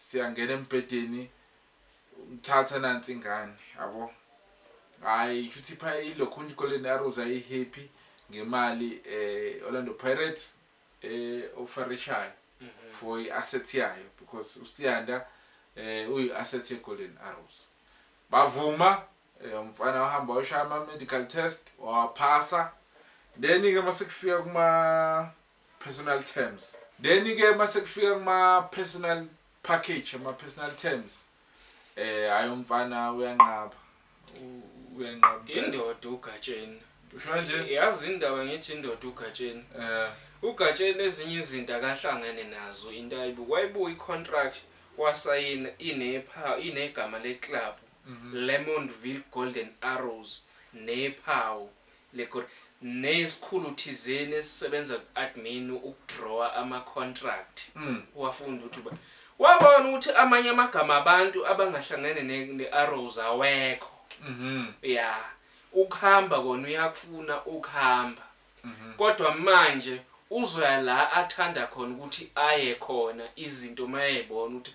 Siyangena embhedeni ngithatha nansi ingane yabo. Hayi shuthi pha iLokhunja iGolden Arrows ayihappy ngemali eh Orlando Pirates eh ofarishayo for i-asset yayo because uSiyanda eh uyi-asset yeGolden Arrows. Bavuma eh, umfana wahamba wayoshaya ama-medical test wawaphasa then-ke masekufika kuma personal terms. Then ke mase kufika kuma personal package ama personal terms eh hayi umfana uyanqaba uyanqaba indoda ugatsheni usho nje yazi indaba ngithi indoda ugatsheni eh ugatsheni ezinye izinto akahlangene nazo into ayibu wayibuka icontract wasayina inepha inegama leclub mhm. Lemontville Golden Arrows nephawu Legur, Neyesikhulu thizeni esisebenza ku-admin ukudrawer ama contract kuwafundi ukuthi ba. Wabona ukuthi amanye amagama abantu abangahlangene ne ne arrows awekho. Ya. Ukuhamba kona uyakufuna ukuhamba. Kodwa manje uzoya la athanda khona ukuthi aye khona izinto mayebona ukuthi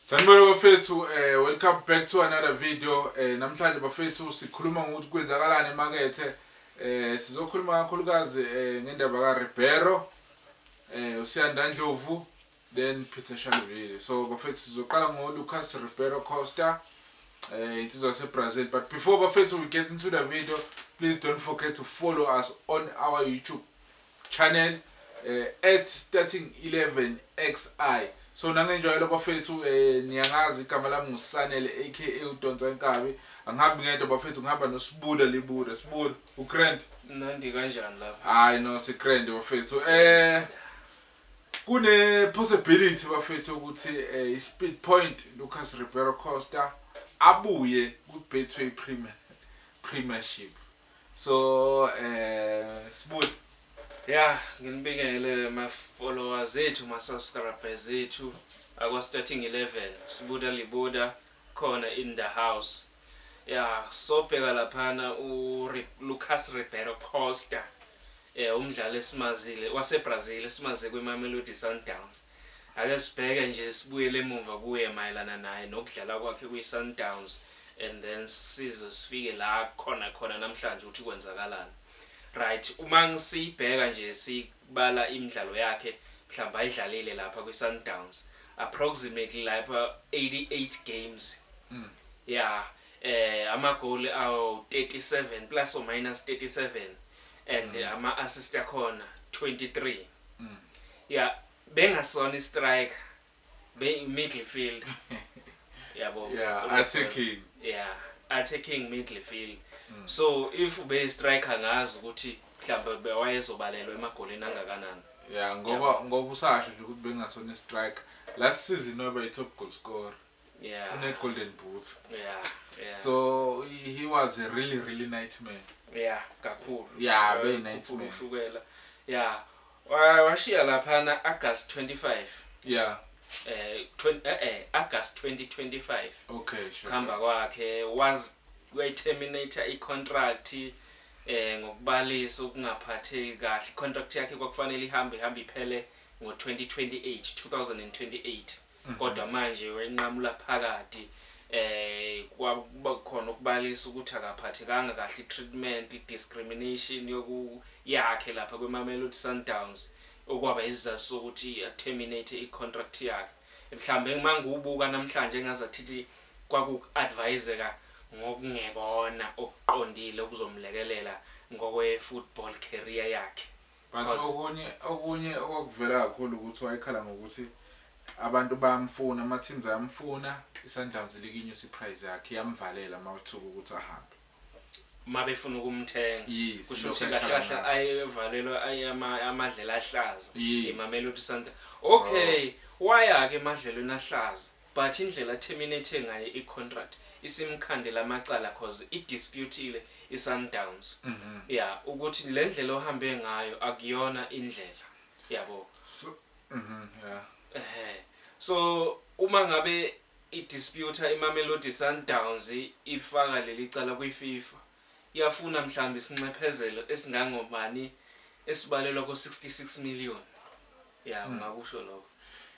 Sanibona bafethu um welcome back to another video um namhlanje bafethu sikhuluma ngokuthi kwenzakalani emakethe um sizokhuluma kakhulukazi um ngendaba karibero um usiyanda ndlovu then peter shalvile so bafethu sizoqala ngolucas ribero costa um insizwa yasebrazil but before bafethu we get into the video please don't forget to follow us on our youtube Channel at starting 11xi so nangenjwayelo bafethu eh, niyangazi igama lami ngusanele aka udonsa inkabi angihambi ngedwa bafethu ngihamba nosibuda libuda sibuda ugrand nandi kanjani lapha hayi no sigrand bafethu um kune-possibility bafethu ukuthi um i-speed point lucas rivero costa abuye kwi-betway premiership So eh sibuye Yeah, nginibingele ma followers ethu ma subscribers ethu akwa starting 11 sibuda libuda khona in the house. Yeah, sobheka laphana u Lucas Ribeiro Costa. Eh, umdlali esimazile waseBrazil esimaze kwiMamelodi Sundowns. Ake sibheke nje sibuyele emuva kuye mayelana naye nokudlala kwakhe kwiSundowns and then size sifike la khona khona namhlanje ukuthi kwenzakalani. Right, uma ngisibheka nje sibala imidlalo yakhe mhlawumbe ayidlalile lapha kwiSundowns approximately lapha 88 games. Mm. Yeah, eh amagoli awu 37 plus or minus 37. and mm. ama assist akhona 23 mm. yeah bengasona istriker be midfield yabo yeah attacking yeah attacking midfield mm. so if ube striker ngazi ukuthi mhlawumbe bewayezobalelwa emagolini angakanani yeah ngoba ngoba usasho nje ukuthi bengasona istriker last season waba i top goal scorer yeah. une golden boots yeah, yeah. so he was a really really nice man yeah kakhulu yeah very nice man ushukela yeah washiya laphana August 25 yeah eh, eh eh August 2025 okay sure khamba kwakhe was we terminate i contract eh ngokubalisa ukungaphatheki kahle contract yakhe kwakufanele ihambe ihambe iphele ngo 2028 2028 Mm. kodwa manje wenqamula phakathi eh kwakuba khona ukubalisa ukuthi akaphathekanga kahle treatment discrimination yoku yakhe lapha kweMamelodi Sundowns okwaba izizathu sokuthi terminate icontract yakhe mhlambe mangiwubuka namhlanje engazathi kwakuadviseka ngokungekona okuqondile okuzomlekelela ngokwe football career yakhe But Cause- okunye okunye okwakuvela kakhulu ukuthi wayekhala ngokuthi abantu bayamfuna ama teams ayamfuna iSundowns likinyusa iprice yakhe yamvalela mawuthuka ukuthi ahambe uma befuna ukumthenga Yes, kusho lokho ukuthi kahle ayekhala kahle ngakho. ayevalelwa aye- ama- amadlela ahlaza Yes. emamelodi santa okay waya-ke emadlelweni ahlaza But indlela terminate ngayo i contract isimkhandela amacala coz i disputile i Sundowns ya ukuthi lendlela ohambe ngayo akuyona indlela yabo ehhe so uma ngabe i disputer i Mamelodi Sundowns ifaka lelicala kwi FIFA yafuna mhlawumbe isinxephezelo esingangobani esibalelwa ko 66 million. Yeah, ungakusho lokho.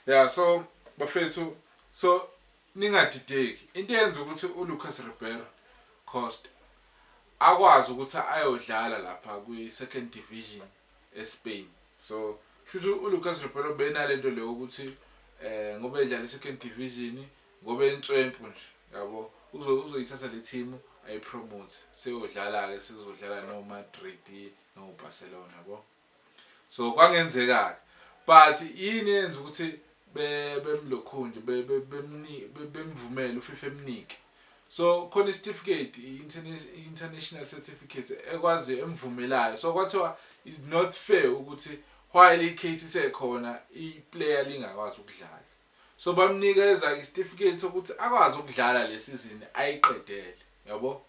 Yeah, so bafethu so ningadideki. Into eyenza ukuthi uLucas Ribeiro Costa akwazi ukuthi ayodlala lapha kwi-second division eSpain. So shuthi uLucas Ribeiro benalento leyo ukuthi eh ngoba edlala i-second division ngoba entswempu nje yabo uzoyithatha le team ayipromote seyodlala-ke sizodlala no-madrid no-barcelona yabo So kwangenzekake but yini eyenza ukuthi be bemlokhunje be bemni bemvumele uFifa emnike so khona isitifiketi international certificate ekwazi emvumelayo so kwathiwa is not fair ukuthi while icase isekhona iplayer lingakwazi ukudlala so bamnika ezakhe isitifiketi sokuthi akwazi ukudlala lesizini ayiqedele yabo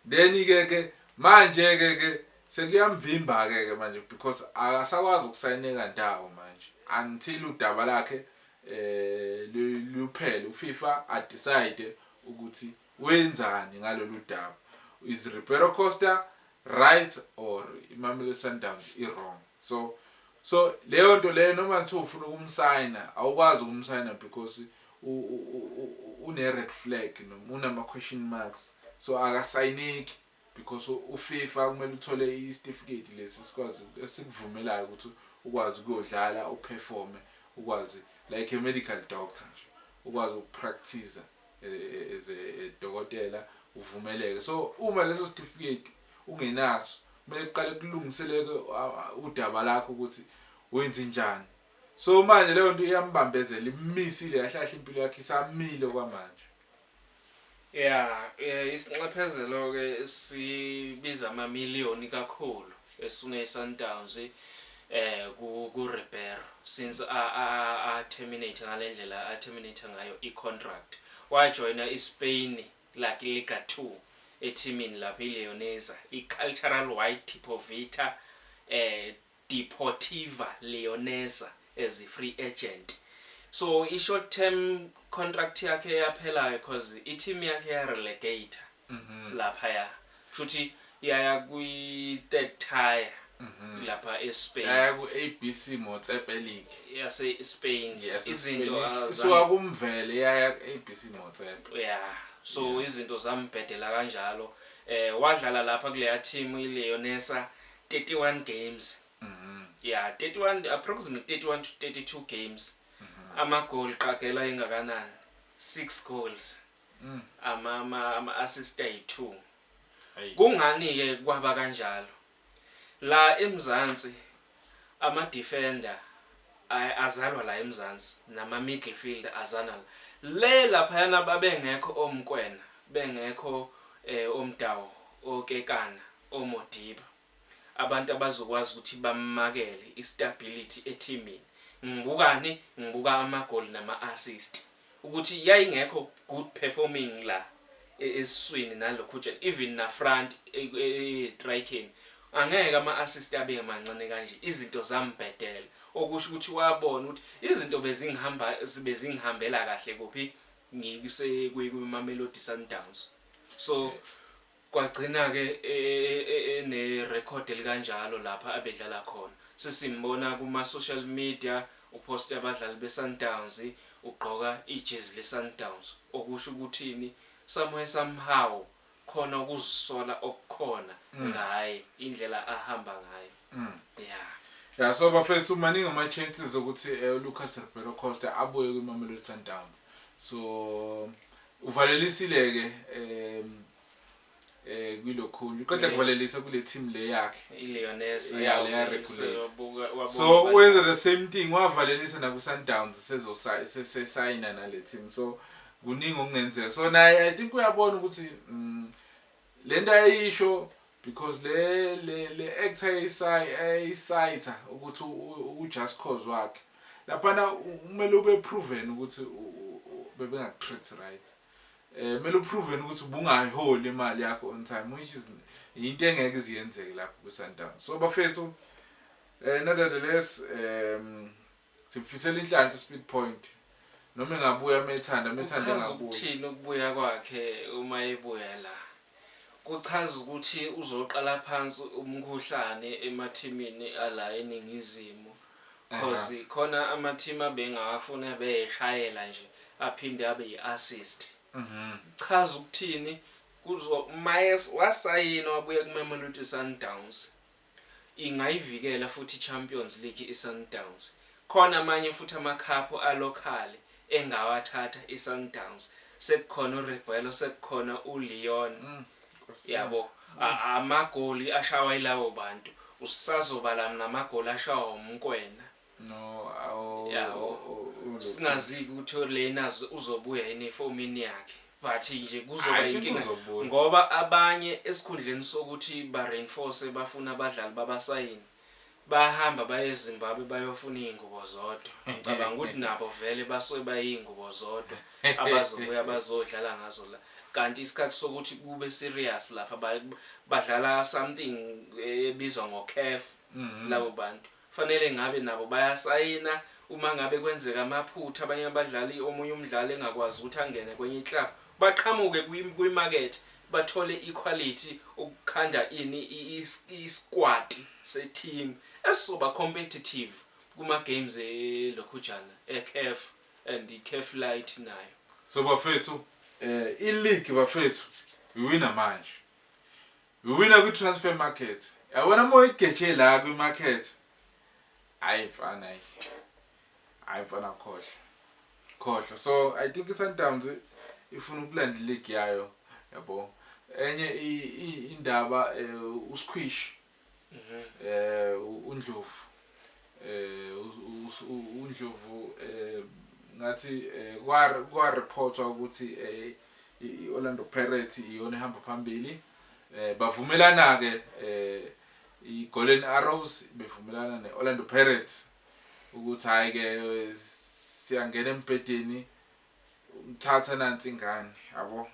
then ke ke manje ke ke sekuyamvimba ke ke manje because akasakwazi ukusayineka ndawo manje until udaba lakhe eh luphele uFifa a decide ukuthi wenzani ngalolu daba is Ribeiro Costa right or iMamelodi Sundowns i wrong so so leyo nto leyo noma ngithi ufuna ukumsayina awukwazi ukumsayina because Une red flag noma unama question marks so akasayineki because uFifa kumele uthole isitifiketi lesi sikwazi esikuvumelayo ukuthi ukwazi ukuyodlala uperforme ukwazi like a medical doctor nje ukwazi ukupractice as a dokotela uvumeleke so uma leso sitifiketi ungenaso kumele kuqale kulungiseleke udaba lakho ukuthi wenze njani So manje leyo nto iyambambezela immisile kahle kahle impilo yakhe isamile okwamanje. Yeah, eh, isinxephezelo ke sibiza ama million kakhulu esune Sundowns eh ku ku Ribeiro since a a, a terminate ngalendlela a terminate ngayo i contract wajoina i Spain like Liga 2 ethimini lapha iLeonesa iCultural White Tipovita eh Deportiva Leonesa as free agent so i short term contract yakhe yaphela coz i team yakhe ya relegator laphaya kushuthi yaya kwi third tier lapha e Spain yaya ku ABC Motsepe League yase Spain izinto isuka ku Mvele yaya ku ABC Motsepe yeah so izinto zambhedela kanjalo wadlala lapha kuleya team i Leonesa 31 games ya 31 approximately 31 to 32 games ama goal qagela engakanani 6 goals ama ama, ama assist ay 2 Hey. kungani ke kwaba kanjalo la emzansi ama defender ay- azalwa la emzansi nama midfield azana la le lapha yana babengekho omkwena bengekho eh, omdawo okekana oModiba abantu abazokwazi ukuthi bamakele istability ethimini ngibukani ngibuka amagoli nama assist ukuthi yayingekho good performing la esiswini nalokhujana even na front etrikeni angeke ama assist abe mancane kanje izinto zambhedela okusho ukuthi wabona ukuthi izinto bezingihamba bezingihambela kahle kuphi ngikuse kwiMamelodi Sundowns so yeah. Kwagcina-ke enerekhodi elikanjalo lapha abedlala khona. Sesimbona kuma-social media uphoste abadlali beSundowns, ugqoka ijezi leSundowns. Okusho ukuthini? Somewhere somehow khona ukuzisola okukhona ngaye, indlela ahamba ngayo. Ya. Ya, so bafethu maningi ama-chances okuthi uLucas Ribeiro Costa abuye kwiMamelodi Sundowns. So Uvalelisile-ke um eh kwilokhunye uqeda kuvalelisa kule team le yakhe iLeoness yeah leya regulate so wenza the same thing wavalelisa na ku Sundowns sezo se sign na le team so kuningi okungenzeka so naye i think uyabona ukuthi mm, lento ayisho Because le le le actor eyisay eyisayitha ukuthi u just cause wakhe. Laphana kumele ube proven ukuthi bebengaku treat right. Eh kumele uproven ukuthi ubungayiholi imali yakho on time which is into engeke iziyenzeke lapho ku Sundowns. So bafethu eh nevertheless um Sikufisela inhlanhla uSpeed Point. Noma engabuya uma ethanda, uma ethanda Kuchaza engabuya. ukuthini ukubuya kwakhe uma ebuya la? Kuchaza ukuthi uzoqala phansi umkhuhlane emathimini ala eNingizimu cause khona amathimi abengawafuni abeyeshayela nje aphinde abe yi-assist. Kuchaza ukuthini kuzo uma es- wasayina wabuya kuMamelodi Sundowns. Ingayivikela futhi iChampions League iSundowns. Khona amanye futhi amakhaphu alokhali engawathatha iSundowns. Sekukhona uRebuelo, sekukhona uLeon. Yabo, amagoli ashawa yilawo bantu. Usazobala namagoli ashawa uMokwena. no awu yabo singaziki ukuthi lena uzobuya yini efomini yakhe but nje kuzoba inkinga ngoba abanye esikhundleni sokuthi ba reinforce bafuna abadlali babasayini bahamba baye eZimbabwe bayofuna izingubo zodwa ngicabanga ukuthi nabo vele basuke bayizingubo zodwa abazobuya bazodlala ngazo la kanti isikhathi sokuthi kube serious lapha badlala something ebizwa ngocaf mhm. labo bantu Kufanele ngabe nabo bayasayina uma ngabe kwenzeka amaphutha abanye abadlali omunye umdlali engakwazi ukuthi angene kwenye iclub baqhamuke kwimakethe bathole ikhwalithi ukukhanda ini isikwati seteam esizoba competitive kuma games elokhujana ecaf and icaf lite nayo. So bafethu um ileague bafethu iwina manje. Iwina kwi transfer market. Yabona uma uyigeje la kwi market. Hayi mfana hayi. Hayi mfana khohlwa. Khohlwa. So I think iSundowns ifuna ukulanda league yayo yabo. Enye indaba eh, uSkwish. Mhm. Eh uNdlovu. eh uNdlovu eh ngathi eh, kwa reportwa ukuthi eh iOrlando Pirates iyona ehamba phambili eh bavumelana ke eh iGolden Arrows bevumelana neOrlando Pirates ukuthi hayi ke siyangena embhedeni ngithatha nansi ingane yabo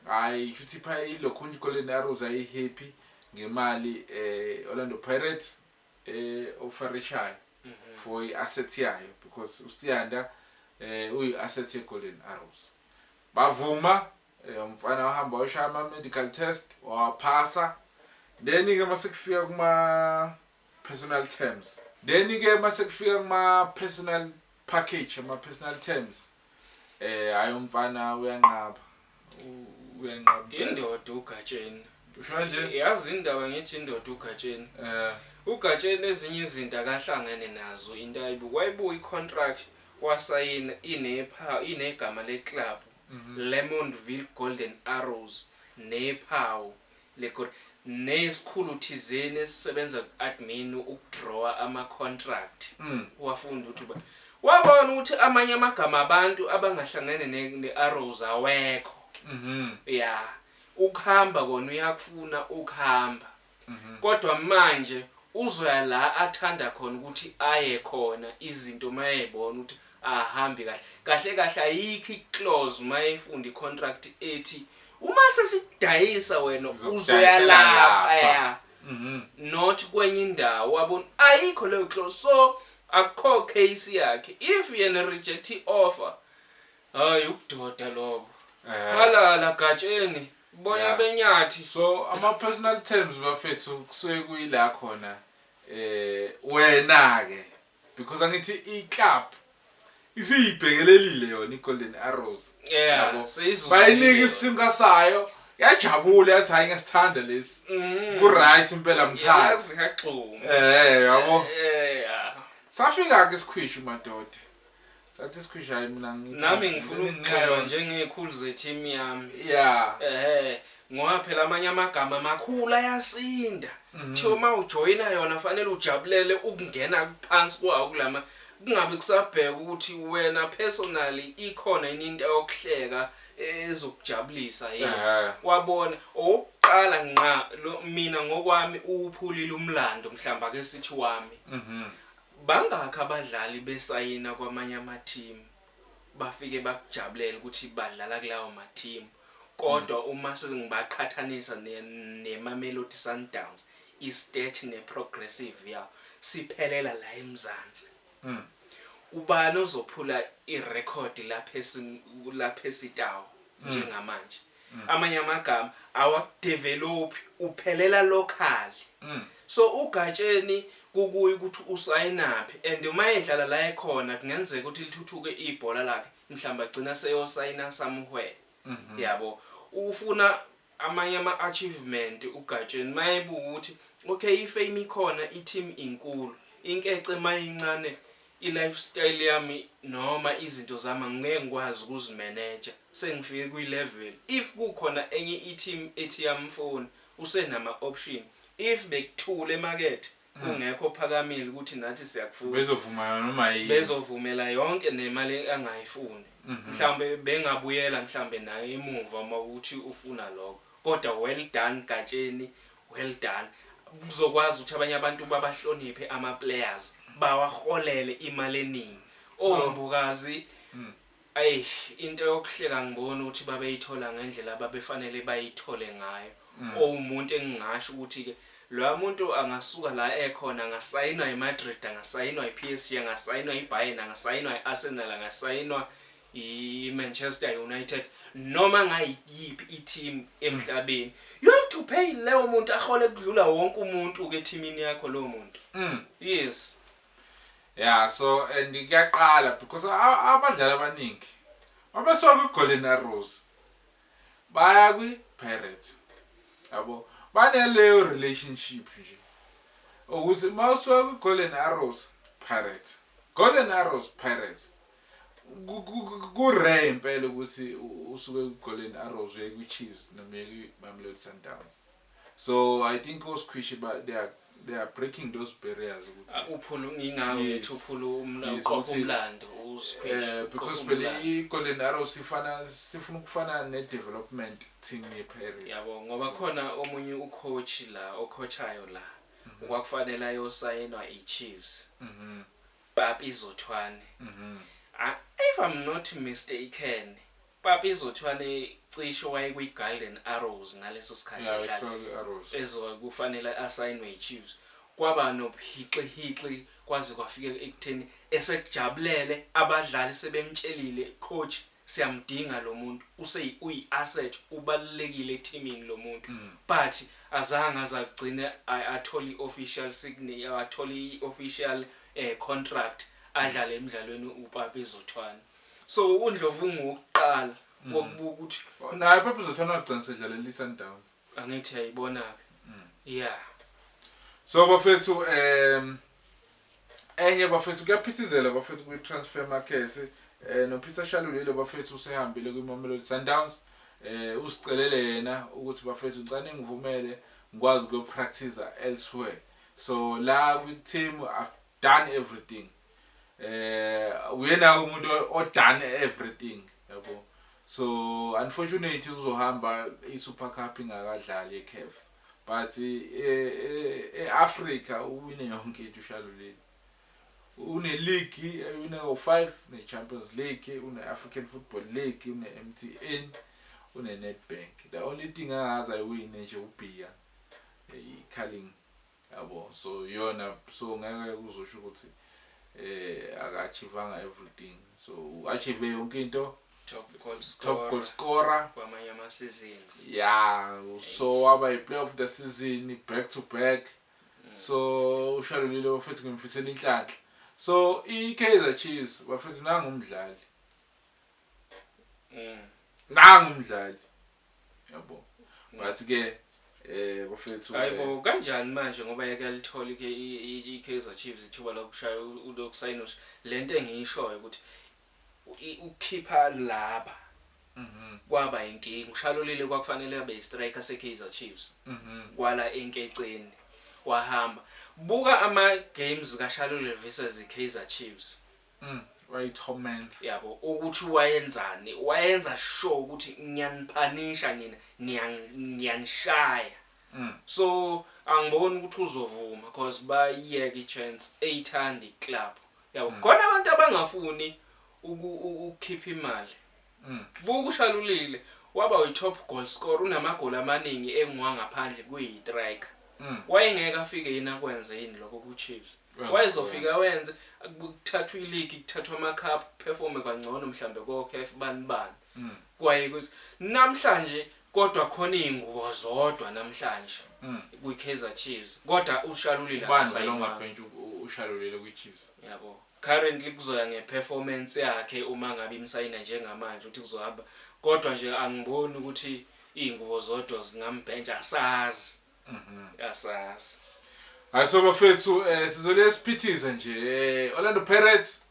hayi futhi pha ilokhu iGolden Arrows ayihappy ngemali eh Orlando Pirates eh ofarishayo for i asset yayo because uSiyanda eh uyi asset ye Golden Arrows bavuma eh, umfana wahamba washaya ama medical test wawaphasa then ke masekufika kuma personal terms then ke masekufika kuma personal package ama personal terms eh hayi umfana uyanqaba uyanqaba indoda ugatsheni ushona nje yazi indaba ngithi indoda ugatsheni eh ugatsheni ezinye izinto akahlangene nazo into ayibuka wayibuka icontract wasayina inepha inegama leclub mhm. Lemontville Golden Arrows nephawu Legur, Neyesikhulu thizeni esisebenza ku-admin ukudrawer ama contract kuwafundi ukuthi uba wabona ukuthi amanye amagama abantu abangahlangene ne ne arrows awekho ya ukuhamba kona uyakufuna ukuhamba kodwa manje uzoya la athanda khona ukuthi aye khona izinto mayebona ukuthi ahambi kahle kahle kahle ayikho iclause mayefunda icontract ethi uma sesidayisa wena uzoya lapha ya mhm. not kwenye indawo wabona ayikho leyo close so akukho case yakhe if yena reject i-offer hayi ubudoda lobo eh. halala gatsheni boya benyathi so ama-personal terms bafethu kusuke kuyila khona um wena-ke Because angithi i club isiyibhekelelile yona iGolden Arrows yeah yabo seyizuzile. bayinika isinka sayo yajabula yathi hayi ngesithanda lesi Mm. ku right impela mthanda Yazi ngagxuma. eh yabo Eh, yeah. safika ke sikhwishi madoda Thatha isikhwishayi mina ngithi. Nami ngifuna ukugxekwa njengekhulu ze-team yami. Yeah. Ehhe. Ngoba phela amanye amagama amakhulu ayasinda. Mhm. Kuthiwa uma ujoyina yona kufanele ujabulele ukungena phansi kwawo kulama kungabe kusabheka ukuthi wena personally ikhona yini into yokuhleka ezokujabulisa yini Ehhe. wabona owokuqala nqa lo- mina ngokwami uwuphulile umlando mhlawumbe ake sithi wami Mhm. Bangakhi abadlali besayina kwamanye amathimu bafike bakujabulele ukuthi badlala kulawo mathimu kodwa uma sengibaqhathanisa neMamelodi Sundowns, iState neProgressive yawo siphelela la eMzansi. Ubani ozophula irekhodi laPercy Tau njengamanje? Amanye amagama awakudevelophi uphelela locally. So uGatsheni kukuye ukuthi usayinaphi and uma edlala la ekhona kungenzeka ukuthi lithuthuke ibhola lakhe mhlawumbe agcina seyosayina somewhere. Yabo. Ufuna amanye ama achievement uGatsheni mayebuka ukuthi okay ifame ikhona iteam inkulu inkece mayincane I life style yami noma izinto zami angeke ngikwazi ukuzi manager sengifike kwi level if kukhona enye i team ethi yamfuni usenama option if bekuthule emakethe kungekho ophakamile ukuthi nathi siyakufuna Bezovumelana noma yini. bezovumela yonke nemali angayifuni mhlawumbe bengabuyela mhlawumbe naye emuva uma ukuthi ufuna lokho kodwa well done Gatsheni Well done. Kuzokwazi ukuthi abanye abantu babahloniphe ama players, bawaholele imali eningi. So- Oh Mbukazi, Mm. ayi into yokuhleka ngibona ukuthi babeyithola ngendlela ababefanele bayithole ngayo. Mm. Owumuntu engingasho ukuthi ke loya muntu angasuka la ekhona angasayinwa iMadrid, angasayinwa iPSG, angasayinwa iBayern, angasayinwa iArsenal, angasayinwa iManchester United noma ngayiphi i-team emhlabeni you have to pay leyo muntu ahole kudlula wonke umuntu ke teamini yakho lowo muntu mm. yes yeah so and kuyaqala because abadlali abaningi mabesuka kwi-golden arrows baya kwi-pirates yabo baneleyo relationship nje ukuthi uma usuka kwi-golden arrows pirates golden arrows pirates Ku rare impela ukuthi usuke ku Golden Arrows uye ku Chiefs noma uye ku Mamelodi Sundowns. So I think oSkhwishi ba they are they are breaking those barriers ukuthi ah, uphula ngingako ngithi uphula umlaqopha umlando uSquish eh, because phela iGolden Arrows sifana sifuna ukufana nedevelopment team yePirates yabo ngoba khona omunye ucoach la ocoachayo la mhm. kwakufanele ayosayinwa iChiefs mhm. Papi Zothwane. A, if I'm not mistaken, Papi Zothwane cishe wayekwiGolden Arrows ngaleso sikhathi Ya, edlala. wayefika kwi-Arrows. Ezwa kufanele asayinwe yiChiefs. Kwaba nobuhixihixi kwaze kwafika ekutheni esekujabulele abadlali sebemtshelile coach Siyamdinga lomuntu useyi uyi asset ubalulekile ethimini lomuntu but azange aze agcine athole i official signi athole i official contract adlale emdlalweni uPapi Zothwane so uNdlovu ungowokuqala wokubuka ukuthi naye uPapi Zothwane wagcina sedlalela iSundowns angithi yayibona ke yeah so bafethu um Enye bafethu kuyaphithizela bafethu kwi transfer market eh no Peter Shalulile bafethu usehambile kwi Mamelodi Sundowns eh usicelele yena ukuthi bafethu ngicela ningivumele ngikwazi ukuyo practice elsewhere so la kwi team I've done everything eh uyena umuntu o done everything yabo so unfortunately uzohamba i Super Cup ingakadlali eCAF But e, e, e Africa uwine yonke into ushalulile. Une league une o5 ne Champions League, une African Football League, une MTN, une Nedbank. The only thing angazi ayiwine nje ubhiya iCarling. Yabo. So yona so ngeke kuzosho ukuthi eh akachievanga everything. So achieve yonke into top goal scorer top goal scorer kwamanye ama seasons yeah so waba yi player of the season back to back mm. so ushalulile bafethu ngimfisela inhlanhla so i Kaizer Chiefs bafethu nangu umdlali mm. nangu umdlali yabo mm. but ke eh bafethu hayibo eh, kanjani manje ngoba yake alithola i Kaizer Chiefs ithuba lokushaya ulokusayina lento engishoyo ukuthi Ukukhipha laba kwaba inkinga. UShalulile kwakufanele abe yistriker seKaizer Chiefs kwala enkeceni wahamba. Buka ama games kaShalulile versus iKaizer Chiefs. Wayithomenta. Yabo ukuthi wayenzani, wayenza sure ukuthi ngiyaniphanisha nina, ngiyanishaya. So angiboni ukuthi uzovuma cause bayiyeka ichance eyithanda iclub. Yabo khona abantu abangafuni uku- u- ukukhipha imali. Buka uShalulile waba uyi-top goal scorer unamagoli amaningi engwangaphandle kuyi-striker. Wayengeke afike yini akwenze yini lokho ku-Chiefs? Wenza, Wayezofika wenze kuthathwa iligi, kuthathwa ama-cup, performe kangcono mhlambe ko-CAF bani bani. Mm. Kwaye kuthi namhlanje kodwa khona izingubo zodwa namhlanje mm. kwi Kaizer Chiefs kodwa ushalulile akasayibhentsha ushalulile kwi Chiefs yabo currently kuzoya nge performance yakhe uma ngabe imsayina njengamanje ukuthi kuzohamba kodwa nje angiboni ukuthi izingubo zodwa zingambhentsha asazi Mhm. Asazi. Hayi so bafethu eh sizole siphithize nje. Eh, Orlando Pirates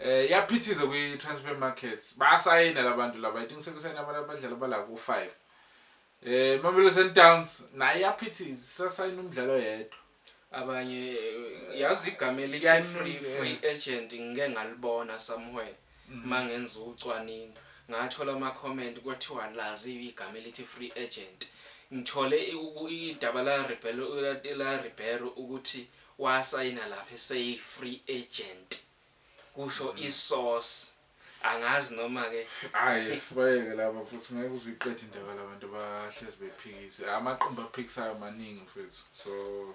eh yaphithiza kwi transfer market. Basayina labantu laba. I think sebesayina abantu abadlali abala ku 5. Eh Mamelodi Sundowns naye yaphithiza sasayina umdlalo oyedwa. abanye eh, yazi igama elithi Yaningi, free eh. free agent ngike ngalibona somewhere Uma ngenza ucwaningo ngathola ama comment kwathiwa laziwa igama elithi free agent. Ngithole idaba lika Ribeiro ukuthi wasayina lapha eseyi free agent. Kusho i source. Angazi noma ke. Hayi sibayeke laba mfuthu ngeke uze uyiqede indaba labantu bahlezi bephikisa. Amaqembu aphikisayo maningi mfethu so.